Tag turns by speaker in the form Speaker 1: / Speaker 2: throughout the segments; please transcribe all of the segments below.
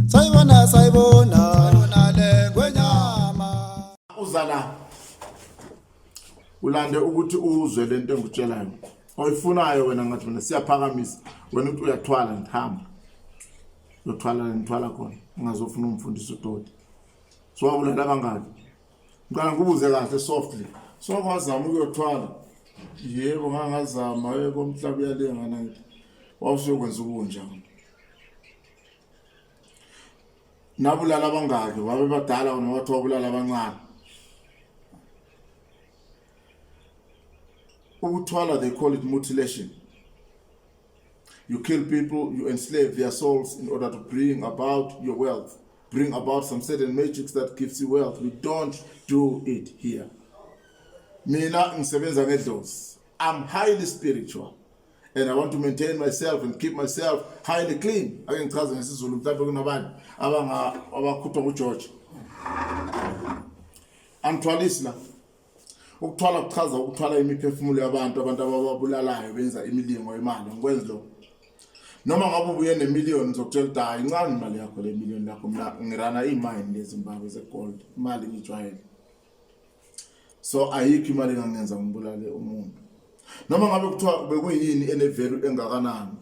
Speaker 1: sayibona sayibona yona le ngwenyama uza la ulande ukuthi uzwe lento engikutshelayo oyifunayo wena ngathi mina siyaphakamisa wena uthi uyathwala ngihamba uyothwala la ngithwala khona ungazofuna umfundisi udoti so wabulala abangaki Ngicela ngikubuze kahle softly. So kwazama ukuyothwala. Yebo ngangazama yebo umhlaba uyalengana ngithi. Wawusuyokwenza ubunja. Nabulala abangaki? Wabe badala wena wathi wabulala abancane. Ukuthwala they call it mutilation. You kill people, you enslave their souls in order to bring about your wealth, bring about some certain magics that gives you wealth. We don't do it here. Mina ngisebenza ngedlozi. I'm highly spiritual and I want to maintain myself and keep myself highly clean. Ake ngichaze ngesiZulu mhlawumbe kunabantu abanga abakhutha uGeorge. Angithwalisi la. Ukuthwala kuchaza ukuthwala imiphefumulo yabantu abantu abababulalayo benza imilingo imali ngikwenzi lokho noma ngabe ubuye nemiliyoni zokutshela ukuthi hayi incane imali yakho le miliyoni lakho mna ngirana iimayini lezimbabwe zegold imali ngijwayele so ayikho imali engangenza ngibulale umuntu noma ngabe kuthiwa bekuyini enevelu engakanani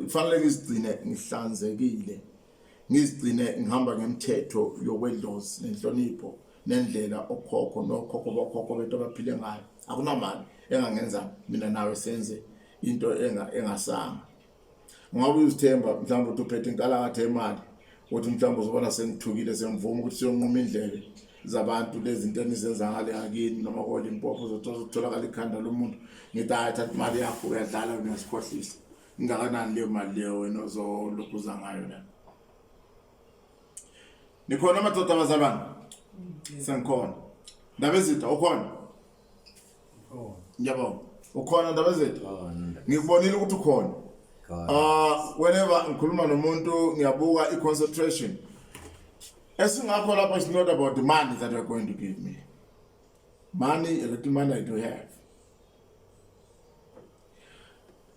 Speaker 1: kufanele ngizigcine ngihlanzekile ngizigcine ngihamba ngemthetho yokwedlozi nenhlonipho nendlela okhokho nokhokho bokhokho bethu abaphile ngayo akunamali engangenza mina nawe senze into engasanga ngabe uzithemba mhlawumbe ukuthi uphethe inkalakatha yemali ukuthi mhlawumbe uzobona sengithukile sengivuma ukuthi siyonquma indlebe zabantu lezinto enizenza ngale akini noma kolimpopo uzothola ukutholakala ikhanda lomuntu ngithi hayi thatha imali yakho uyadlala uyasikhohlisa Ingakanani leyo mali leyo wena ozolokhu uza ngayo la? Nikhona amadoda abazalwane? Sengikhona. Ndabezitha ukhona? Ukhona. Ngiyabonga. Ukhona ndabezitha? Ngikubonile ukuthi ukhona. Ah, whenever ngikhuluma nomuntu ngiyabuka i-concentration. Esingakho lapha is not about the money that you're going to give me. Money, a little money I do have.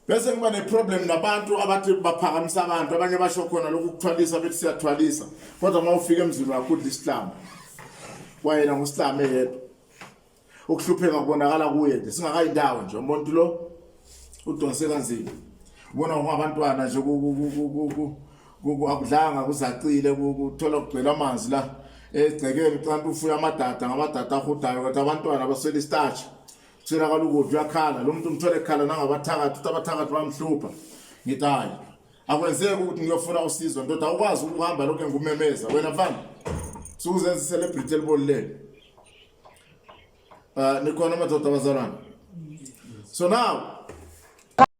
Speaker 1: bese kuba neproblem nabantu abathi baphakamisa abantu abanye basho khona lokhu kuthwalisa bethi siyathwalisa kodwa uma ufika emzini wakho udla isihlama wayena ngusihlame yedwa ukuhlupheka kubonakala kuye nje singakayindawo nje umuntu lo udonse kanzima ubona ngabantwana nje akudlanga kuzacile kuthola kugcwele amanzi la egcekeni kanti ufuya amadada ngamadada ahodayo kodwa abantwana baswela istarch Kuswelakala ukudla uyakhala lo muntu umthole ekhala nangabathakathi uthi abathakathi bamhlupha ngithi hhayi akwenzeki ukuthi ngiyofuna usizo ndoda awukwazi ukuhamba lokhu engumemeza wena mfana sukuzenza i-celebrity elibolulele um nikhona amadoda abazalwane so now